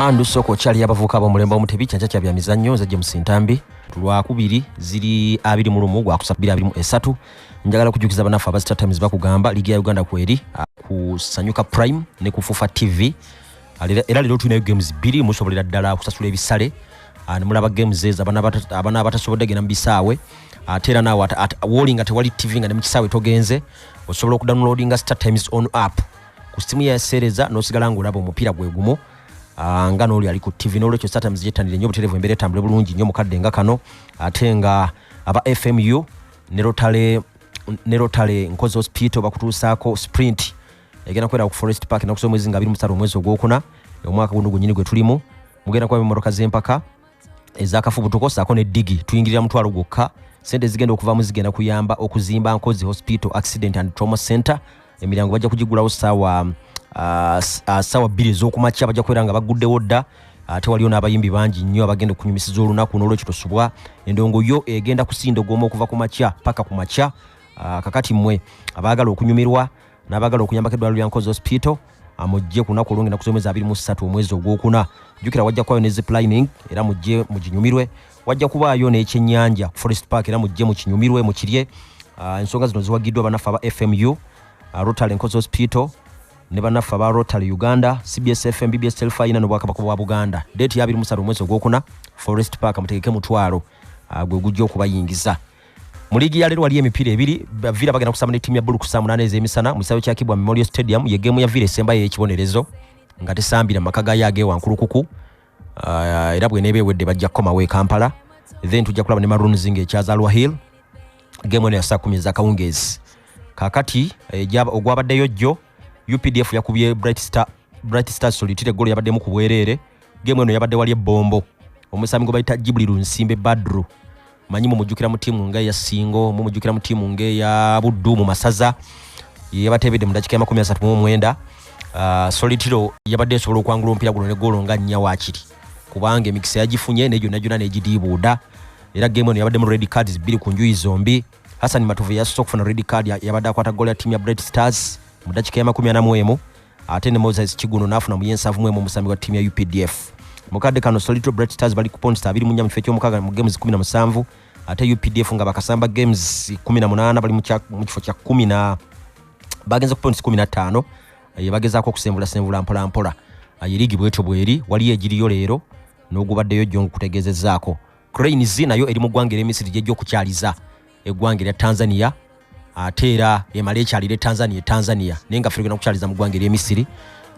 andu soko kyali abavuka bomulembe omu tebikyanca kya bya mizannyo nze james ntambi tulwakubiri ziri abiri mu lumu gwakusa bbiri abiri mu esatu njagala okujukiza banafe aba star times bakugamba ligi ya uganda kweri kusanyuka prime ne kufufa tv era lero tulinayo games bbiri musobolera ddala kusasula ebisale nemulaba games ezo abana abatasobodde genda mu bisaawe ate era naawe wolinga tewali tv nga ne mu kisaawe togenze osobola okudownloadinga star times on app ku simu yaseereza n'osigala ng'olaba omupiira gwe gumu ah, nga n'oli ali ku ttivi n'olwekyo satamuzi gyettanire nnyo obutereevu embeera etambule bulungi nnyo mukadde nga kano ate nga aba fmu ne rotale ne rotale nkozi hospital bakutuusaako sprint egenda kubeera ku forest park enaku z'omwezi nga abiri musatu omwezi ogwokuna omwaka guno gwenyini gwe tulimu mugenda kuba mimotoka z'empaka ezakafubutuko saako ne digi tuyingirira mutwalo gwokka sente zigenda okuvamu zigenda kuyamba okuzimba nkozi hospital accident and trauma center emirango bajja kugigulawo saawa ah, ah, saawa bbiri ez'okumakya bajja kubeera nga baguddewo dda ate waliyo n'abayimbi bangi nnyo abagenda okunyumisiza olunaku n'olwekyo tosubwa endongo yo egenda kusinda ogwoma okuva ku makya paka ku makya ah, kakati mmwe abaagala okunyumirwa n'abagala okuyambako eddwaliro lya nkozi hospital amujje ku lunaku olwongenda kusomeza abiri mu ssatu omwezi ogwokuna jjukira wajja kubayo ne ziplining era mujje muginyumirwe wajja kubaayo n'ekyennyanja ku forest park era mujje mukinyumirwe mukirye ah, ensonga zino ziwagiddwa banaffe aba fmu ah, rotary nkozi hospital ne banaffe aba rotary uganda cbs fm bbs telfayina n'obwakabaka bwa buganda deeti yabiri musatu omwezi ogwokuna forest park mutegeke mutwalo ah, gwe gujja okubayingiza uh, mu liigi ya leero waliyo emipiira ebiri vira bagenda kusamba ne ttiimu ya bulu ku saa munaana ez'emisana mu kisaawe kya kibwa memorial stadium ye geemu ya vira esembayo ey'ekibonerezo nga tesambira maka gayo agewankulukuku ah, era bweneeba ewedde bajja kukomawo e kampala then tujja kulaba ne maroons nga ekyazalwa hill geemu eno ya saa kumi ezakawungeezi kakati eh, ogwabaddeyo jjo updf yakubye bright star bright star solitire golo yabaddemu ku bwereere geemu eno yabadde wali ebbombo omusambi gwe bayita jibuli lunsimbe badru manyi mumujjukira mu tiimu nga eya singo mumujjukira mu tiimu nga eya buddu mu masaza yeyabateebedde mu dakika ya makumi asatu mu omwenda uh, solitiro yabadde esobola okwangula omupiira guno ne goolo nga nnya waakiri kubanga emikisa yagifunye naye gyonna gyonna negidiibuuda era geemu eno yabaddemu red cards bbiri ku njuyi zombi hassan matuvu yasooka okufuna red card yabadde akwata goolo ya tiimu ya bright stars mu dakika ya makumi ana mu emu ate ne moses kiguno n'afuna mu yensavu mwemu omusambi wa ttiimu ya updf mu kadde kano solito bright stars bali ku ponsta abiri mu nnya mu kifo eky'omukaaga mu games kumi na musanvu ate updf nga bakasamba games kumi na munaana bali mu kifo kya kumi na bagenze ku ponts kumi na ttaano eh, bagezaako okusembulasenvula mpolampola eh, yeriigi bwetyo bweri waliyo egiriyo leero n'ogubaddeyo jjo ngukutegeezezaako Cranes nayo eri mu ggwanga erya Misiri gy'ejja okukyaliza eggwanga erya Tanzania ate era emala ekyalire Tanzania Tanzania naye nga fegenda kukyaliza mu ggwanga erya Misiri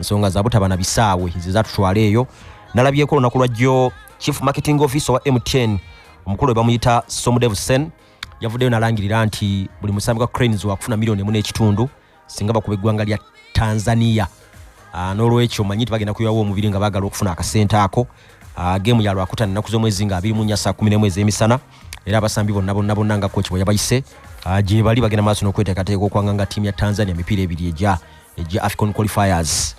nsonga za butaba na bisaawe ze zatutwala eyo nalabyeko olunaku lwa jjo chief marketing officer wa MTN omukulu we bamuyita Somudev Sen yavuddeyo nalangirira nti buli musambi gwa Cranes wakufuna miliyoni emu n'ekitundu singa bakuba eggwanga lya tanzania ah, n'olwekyo manyi nti bagenda kuyawo omubiri nga bagala okufuna akasente ako ah, geemu ya lwakuta nnaku z'omwezi nga abiri mu nya saa kumi n'emu ez'emisana era abasambi bonna bonna bonna nga koki bwe yabayise ah, gye bali bagenda maaso n'okweteekateeka okwanga nga ttiimu ya tanzania emipiira ebiri egya egya african qualifiers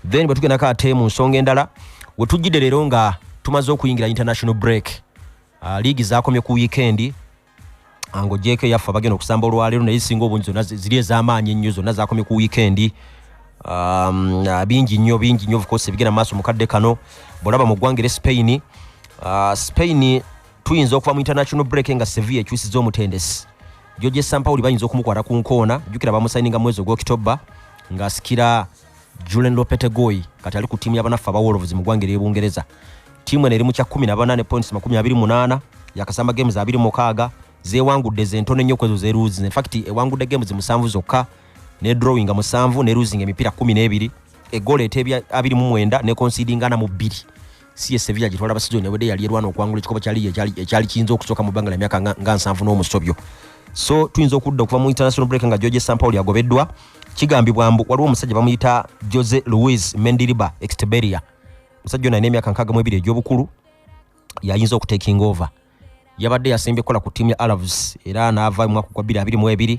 then bwe tugendako ate mu nsonga endala we tujjidde leero nga tumaze okuyingira international break liigi zakomye ku wiikendi ango jeko yaffa bagenda okusamba olwaleero naye singa obungi zonna ziri ez'amaanyi ennyo zonna zakomye ku wiikendi um, uh, bingi nnyo bingi nnyo ofcourse ebigenda maaso mukadde kano bwolaba mu ggwanga ere spain uh, spain tuyinza okuva mu international break nga sevilla ekyusiza omutendesi joje sampawuli bayinza okumukwata ku nkoona jukira bamusayininga mwezi ogwokitoba ng'asikira uh, Julen Lopetegoi kati ali ku tiimu yabanaffe aba Wolves mu ggwanga ery'Ebungereza. Tiimu eno eri mu kya kumi na bana ne points makumi abiri munaana yakasamba games abiri mukaaga zeewangudde zentono ennyo kwezo zeruuzi in fact ewangudde games musanvu zokka ne drawing nga musanvu ne losing emipiira kumi n'ebiri egoolo eteebya abiri mu mwenda ne conceding ana mu bbiri siye sevilla gitwala basizoni ewedde yali erwana okwangula ekikopo kya liigi ekyali kiyinza okusooka mu bbanga lya myaka nga nsanvu n'omusobyo so tuyinza okudda okuva mu international break nga george sampaul yagobeddwa kigambibwa mbu waliwo omusajja bamuyita jose louis mendiriba exteberia omusajja ono alina emyaka nkaaga mu ebiri egy'obukulu yayinza okutekinga over yabadde yasembye kukola ku ttiimu ya alavs era n'ava mu mwaka gwa 22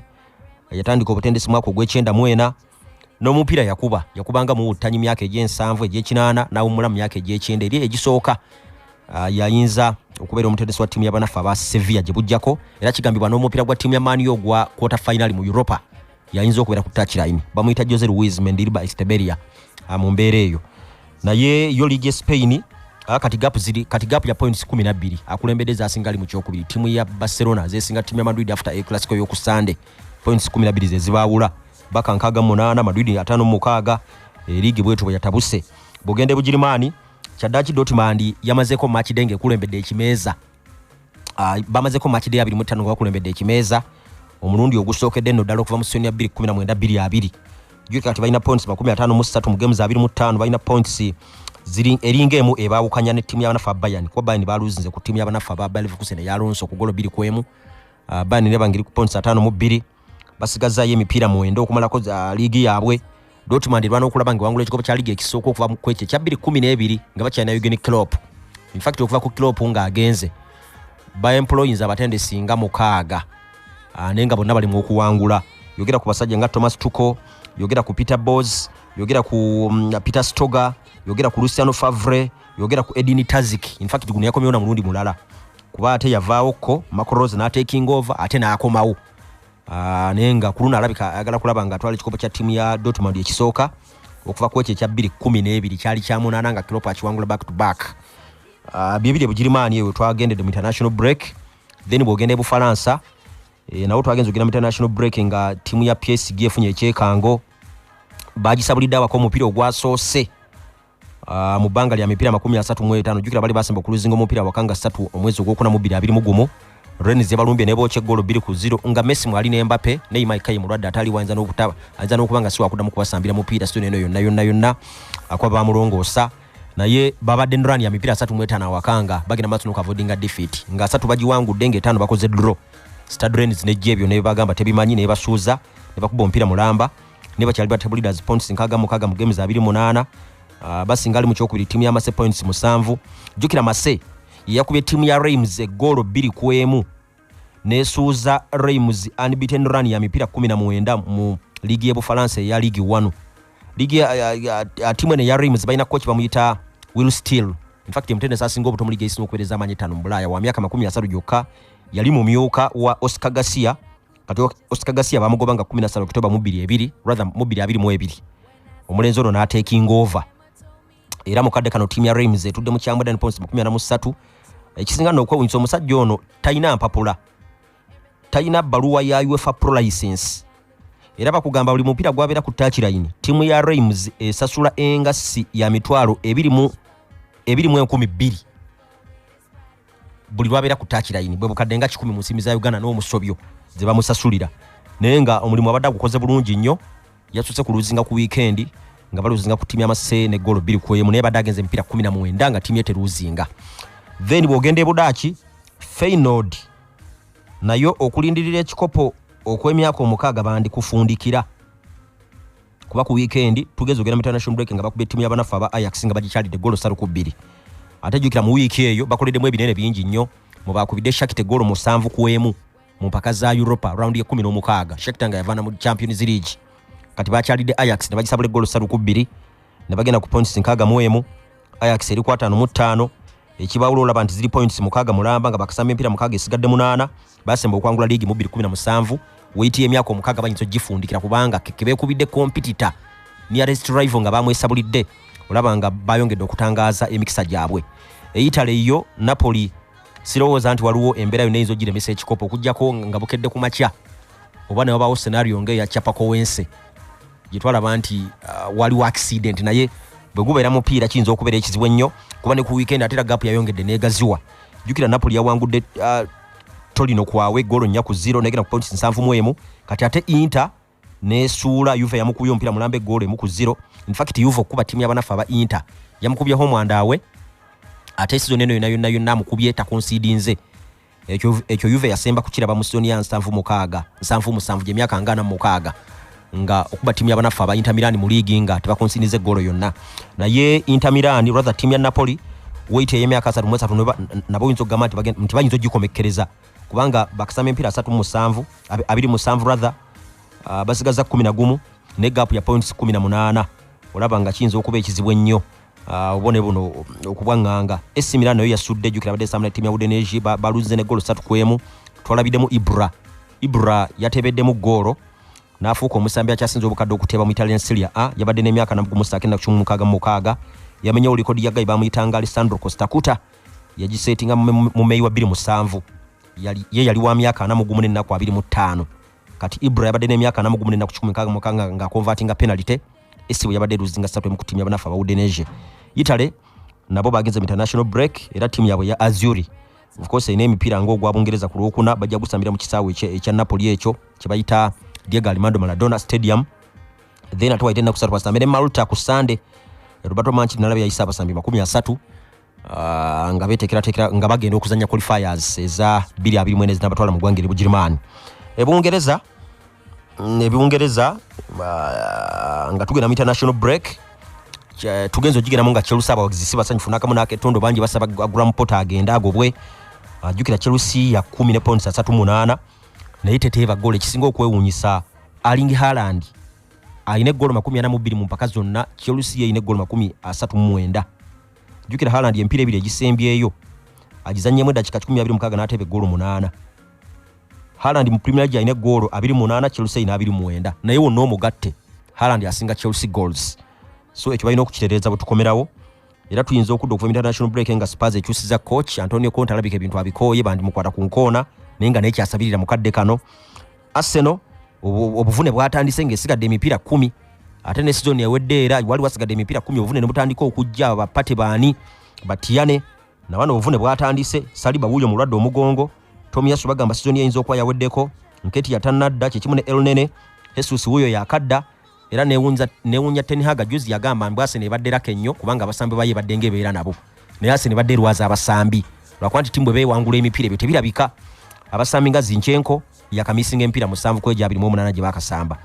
yatandika obutendesi mwaka ogw'ekyenda mu ena n'omupiira yakuba yakubanga muwuttanyi myaka egy'ensanvu egy'ekinaana n'awummula mu myaka egy'ekyenda eri egisooka ah, yayinza okubeera omutendesi wa ttiimu y'abanaffe aba sevilla gye bujjako era kigambibwa n'omupiira gwa ttiimu ya maaniyo ogwa quarter finali mu europa yayinza okubeera ku touchline bamuyita jose louis mendiriba esteberia ah, mu mbeera eyo naye yo liigi espain ah, kati gap ziri kati gap ya points 12 akulembedde zasinga ali mu kyokubiri tiimu ya barcelona zesinga tiimu ya madrid after a classico y'oku sande points 12 zezibaawula baka nkaaga munaana madrid ataano mumukaaga eh, liigi bwetu bwe yatabuse bugende bugirimaani kyaddaki dotmandi yamazeeko makidenge ekulembedde ekimeeza ah, bamazeko match day 25 nga bakulembedde ekimeeza omulundi ogusookedde nno ddala okuva mu senior 219 22 jukira kati balina points 53 mu ssatu mu games 25 balina points eringa emu ebaawukanya ne ttiimu y'abanafu abayani kuba bayani baaluzinze ku ttiimu y'abanafu aba balevukusen eyalonso ku golo biri ku emu ah, bayani nebangeri ku points 5 mu bbiri basigazzaayo emipiira mwenda okumalako za liigi yaabwe dortmund erwana okulaba nga ewangula ekikopo kya liigi ekisooka okuva kwekyo ekya bbiri kumi n'ebiri nga bakyalina eugen clop infact okuva ku clop ng'agenze baemployins abatendesi nga mukaaga ah, naye nga bonna bali mu okuwangula yogera ku basajja nga thomas tuko yogera ku peter bos yogera ku mm, peter stoger yogera ku luciano favre yogera ku edini tazik infact guno yakomewo na mulundi mulala kuba ate yavaawo ko macros nateking over ate nakomawo ah, naye nga kuluno alabika ayagala kulaba nga atwala ekikopo kya tiimu ya dotmond ekisooka okuva kwekyo ekya bbiri kumi n'ebiri kyali kyamunaana nga kiropa akiwangula back to back ah, byebiri ebugirimaani ewe twagendedde mu international break then bwogenda ebufalansa eh, nawo twagenza ogenda mu international break nga tiimu ya psg efunye ekyekango bagisabulidde abako omupiira ogwasoose Uh, mu bbanga lya mipiira makumi asatu mu etaano jjukira bali basemba okuluzinga omupiira wakanga ssatu omwezi ogwokuna mu bbiri abiri mu gumu rens yabalumbye nebookya eggoolo bbiri ku ziro nga messi mwali ne mbape ne imaikayi mulwadde ataali wayinza n'okutaba ayinza n'okuba nga siwakuddamu kubasambira mupiira sitone eno yonna yonna yonna akuba bamulongoosa naye babadde nran ya mipiira asatu mu etaano awakanga bagenda maaso nokuavoidinga defeat nga asatu bagiwangudde ngaetaano bakoze draw stadrens nejja ebyo nebagamba tebimanyi nebasuuza nebakuba omupiira mulamba ne bakyali ba table leaders points nkaga mukaga mu games abiri munana ah, basinga ali mu kyokubiri timu ya mase points musanvu jukira mase yakubye timu ya raims egoolo bbiri ku emu nesuuza raims unbeaten run ya mipiira kumi na mwenda mu liigi y'ebufalansa eya liigi wanu liigi timu eno eya raims balina koki bamuyita will still infact emutendesi asinga obuto mu liigi eisina okubereza amaanyi etaano mu bulaaya wa myaka makumi asatu gyokka yali mumyuka wa oscar garcia kati osika gasiya bamugoba nga 15 oktoba mu 22 rather mu 22 omulenzi ono n'ateekinga ova era mu kadde kano ttiimu ya reims etudde mu kyambwa dan points mu 13 ekisinga n'okwewunyisa omusajja ono talina mpapula talina bbaluwa ya uefa pro license era bakugamba buli mupiira gwabeera ku takilayini ttiimu ya reims esasula engassi ya mitwalo ebiri mu enkumi bbiri buli lwabeera ku takilayini bwe bukadde nga kikumi mu nsiimi za uganda n'omusobyo ze bamusasulira naye nga omulimu abadde agukoze bulungi nnyo yasuse ku luzinga ku wiikendi nga baluzinga ku tiimu yamasee ne goolo bbiri ku emu naye badde agenza emipiira kumi na mwenda nga tiimu ye teruzinga then bw'ogenda e budaaki feinod nayo okulindirira ekikopo okw'emyaka omukaaga bandikufundikira kuba ku wiikendi tugeze ogenda mu international break nga bakuba ettimu y'abanaffe aba ayax nga bagikyalidde golo ssatu ku bbiri ate jjukira mu wiiki eyo bakoleddemu ebinene bingi nnyo mu baakubidde shakite golo musanvu ku emu mu mpaka za europa raundi ekumi n'omukaaga shakita nga yavaana mu champions league kati bakyalidde ayax ne bagisabula eggolo ssatu ku bbiri ne bagenda ku points nkaaga mu emu Ajax eri kwatano mu ttaano ekibawula olaba nti ziri points mukaaga mulamba nga bakasamba empiira mukaaga esigadde munaana basemba okwangula liigi mu 217 weitiya emyaka omukaaga bayinza ogifundikira kubanga kekebekubidde kompitita nearest rival nga bamwesabulidde olaba nga bayongedde okutangaaza emikisa gyabwe eitale yo napoli sirowooza nti waliwo embeera yonna eyinza ogiremesa ekikopo okujjako nga bukedde ku makya oba newabaawo senario nga eyacapako wense gye twalaba nti uh, waliwo accident naye bwe gubeera mupiira kiyinza okubeera ekizibu ennyo kuba ne ku weekend ate era gapu yayongedde negaziwa jukira napoli yawangudde uh, tolino kwawe golo nnya ku zero negenda ku points nsanvu mu emu kati ate inter nesuula yuve yamukubye omupiira mulamba egoolo emu ku zero infact yuve okukuba tiimu yabanaffe aba inter yamukubye homwandawe ate sizoni eno yona yonna yonna amukubye takonsiidinze ekyo ekyo yuve yasemba kukiraba mu sizoni ya nsanvu mukaaga nsanvu musanvu gyemyaka nga ana mukaaga nga okuba tiimu yabanaffe aba intamirani mu liigi nga tebakonsiniza eggolo yonna naye intamirani rather tiimu ya napoli wait eyemyaka asatu mu esatu nabo oyinza okugamba nti bayinza ogikomekkereza kubanga bakasama empiira asatu mu musanvu abiri musanvu rather ah, basigaza kumi na gumu ne gaapu ya points kumi na munaana olaba nga kiyinza okuba ekizibu ennyo Ah, obone buno okubwanganga esimira nayo yasudde jukira bade samna timu ya udeneji balunze ne golo satu kwemu twalabidemu ibra ibra yatebeddemu golo nafuuka omusambi akyasinza obukadde okuteeba mu italian siria a yabadde n'emyaka nagumusakenda kukimu mukaaga mu mukaaga yamenyewo likodi ya gayi bamuyitanga alessandro costacuta yagiseetinga mu meyi wa bbiri musanvu ye yali wa myaka ana mugumu n'ennaku abiri mu ttaano kati ibra yabadde n'emyaka ana mugumu n'ennaku kikumi mukaaga mukaaga ng'akonvatinga penalite esibu yabadde eruzinga satu emu ku tiimu yabanafu aba udenesia italy nabo bagenze mu international break era tiimu yabwe ya azuri of course erina emipiira ngaogwa bungereza ku lwokuna bajja gusambira mu kisaawe ekya napoli ekyo kyebayita diego alimando maladona stadium then ate waite enaku satu basambire malta ku sande roberto manchi nalabye yayise abasambi makumi asatu uh, nga betekeratekera nga bagenda okuzanya qualifiers eza 224 zinabatwala mu gwanga eri bugirimaani ebungereza mm, ebungereza uh, nga tugenda mu international break eh, tugenza ogigendamu nga chelsea abawagizi si basanyufu nakamu naketondo bangi basaba agram pot agenda agobwe ajukira uh, chelsea ya 1 ne points asatu munana naye teteeba goolo ekisinga okwewunyisa aling haland alina eggolo 42 mu mpaka zonna chelsea yeyina eggolo 39 jukira Haaland empira ebiri egisembyeyo agizannyemu eddakiika 16 n'ateeba eggoolo munaana Haaland mu Premier League alina eggoolo 28 Chelsea ina 29 naye wonna omugatte Haaland asinga Chelsea goals so ekyo balina okukitereeza bwe tukomerawo era tuyinza okudda okuva mu international break nga Spurs ekyusiza coach Antonio Conte alabika ebintu abikooye bandimukwata ku nkoona naye nga naye kyasabirira mu kadde kano Arsenal obuvune bwatandise ng'esigadde emipiira kumi ate ne sizoni ewedde era wali wasigadde emipiira kumi obuvune ne butandika okujja bapate baani batiyane nabano obuvune bwatandise saliba wuuyo mulwadde omugongo tomiyasu bagamba sizoni eyinza okuba yaweddeko nketi yatanadda kyekimu ne elnene hesus wuuyo yakadda era newunya tenhaga juzi yagamba mbu asene ebadde raka ennyo kubanga abasambi baye badde nga ebeera nabo naye asene badde erwaza abasambi lwakuba nti timu bwe beewangula emipiira ebyo tebirabika abasambi nga zinkyenko yakamisinga emipiira musanvu ku egyo abiri mu omunaana gye bakasamba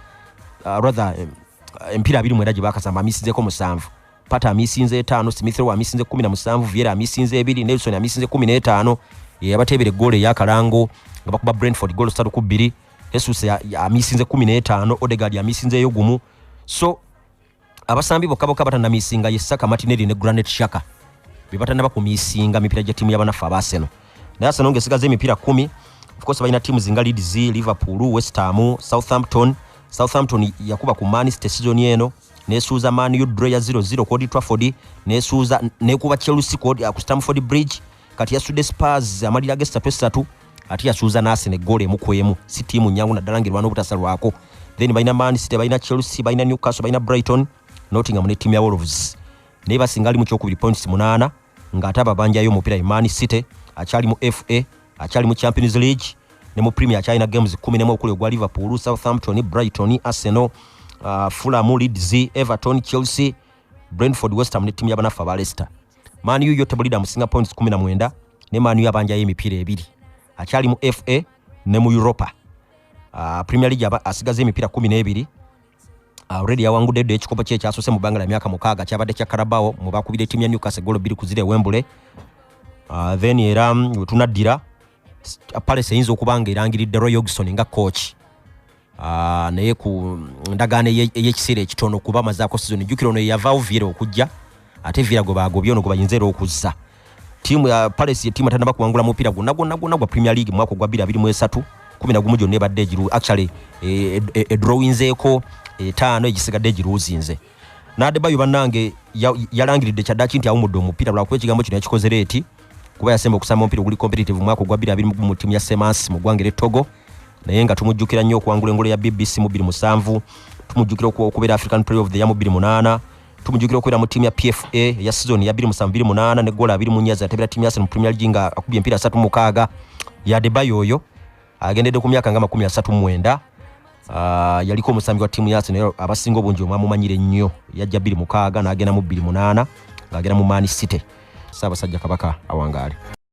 uh, rather eh, emipiira abiri mwera gye bakasamba amisinzeko musanvu pata amisinza etaano smithrow amisinze kumi na musanvu viera amisinza ebiri nelson amisinze kumi n'etaano yeyabateebera eggoolo eyakalango nga bakuba brentford goolo satu ku bbiri Jesus amisinze kumi n'etaano Odegaard amisinzeeyo gumu so abasambi bokka bokka batanamisinga ye Saka Martinelli ne Granit Xhaka be batanaba ku misinga mipira gya tiimu y'abanaffe aba Arsenal naye Arsenal ng'esigaza emipira kumi of course balina tiimu zinga Leeds Liverpool West Ham Southampton Southampton yakuba ku Man City season eno nesuuza Man U draw ya 0-0 ku Old Trafford nesuuza nekuba Chelsea ku Stamford Bridge kati yasudde spars amalira ge satu esatu ate yasuuza nasene gole emu kwemu si tiimu nyangu naddala nga erwana obutasalwako then balina man city balina chelsea balina newcastle balina brighton nottingham ne tiimu ya wolves naye basinga ali mu kyokubiri points munaana ng'ate ababanjayo omupiira ye man city akyali mu fa akyali mu champions league ne mu premier akyalina games kumi nemu okuli ogwa liverpool southampton brighton arsenal uh, fulamu leeds everton chelsea brentford westham ne tiimu yabanaffe aba leicester Man U yo tebulira amusinga points 19 ne Man U abanjayo emipiira ebiri akyali mu FA ne mu Europa uh, Premier League aba asigaza emipiira 12 ah, already uh, yawangudde ddo ekikopo kye ekyasose mu bbanga lya myaka mukaaga kyabadde kya Carabao mu bakubira ettiimu ya Newcastle golo bbiri ku ziri e Wembley uh, then era mm, wetunaddira Palace eyinza okuba nga erangiridde Roy Hodgson nga coach Ah, naye ku ndagaano ey'ekiseera ekitono kuba amazaako sizoni jjukira ono yeyavaawo viera okujja ate viera gwe baagobye ono gwe bayinza era okuzza tiimu ya palesi yetiimu atanaba kuwangula mupiira gwonna gwonna gwonna gwa premier league mwaka ogwa 223 kumi na gumu gyonna ebadde egiru actually edrowinzeeko eh, eh, eh, etaano egisigadde egiruuzinze n'adebayo bannange yalangiridde kyaddaki nti awumudde omupiira lwakuba ekigambo kino yakikoze leeti kuba yasemba okusamba omupiira oguli competitive mu mwaka ogwa 22 mu ttiimu ya semansi mu ggwanga eretogo naye nga tumujjukira nnyo okuwangula engolo ya bbc mu 27 tumujjukira okubeera african play of the ya mu 28 tumujjukira okubeera mu ttiimu ya pfa eya sizoni ya 27 ne gola 2 munyazi atebera ttiimu ya sene mu premier league nga akubye empiira 36 yadebayo oyo agendedde ku myaka nga makumi asatu mwenda Uh, yaliko omusambi wa tiimu ya arsenal abasinga obungi omwamumanyire nnyo yajja bbiri mukaaga n'agenda mu bbiri munaana ng'agenda mu maani city saabasajja kabaka awangaale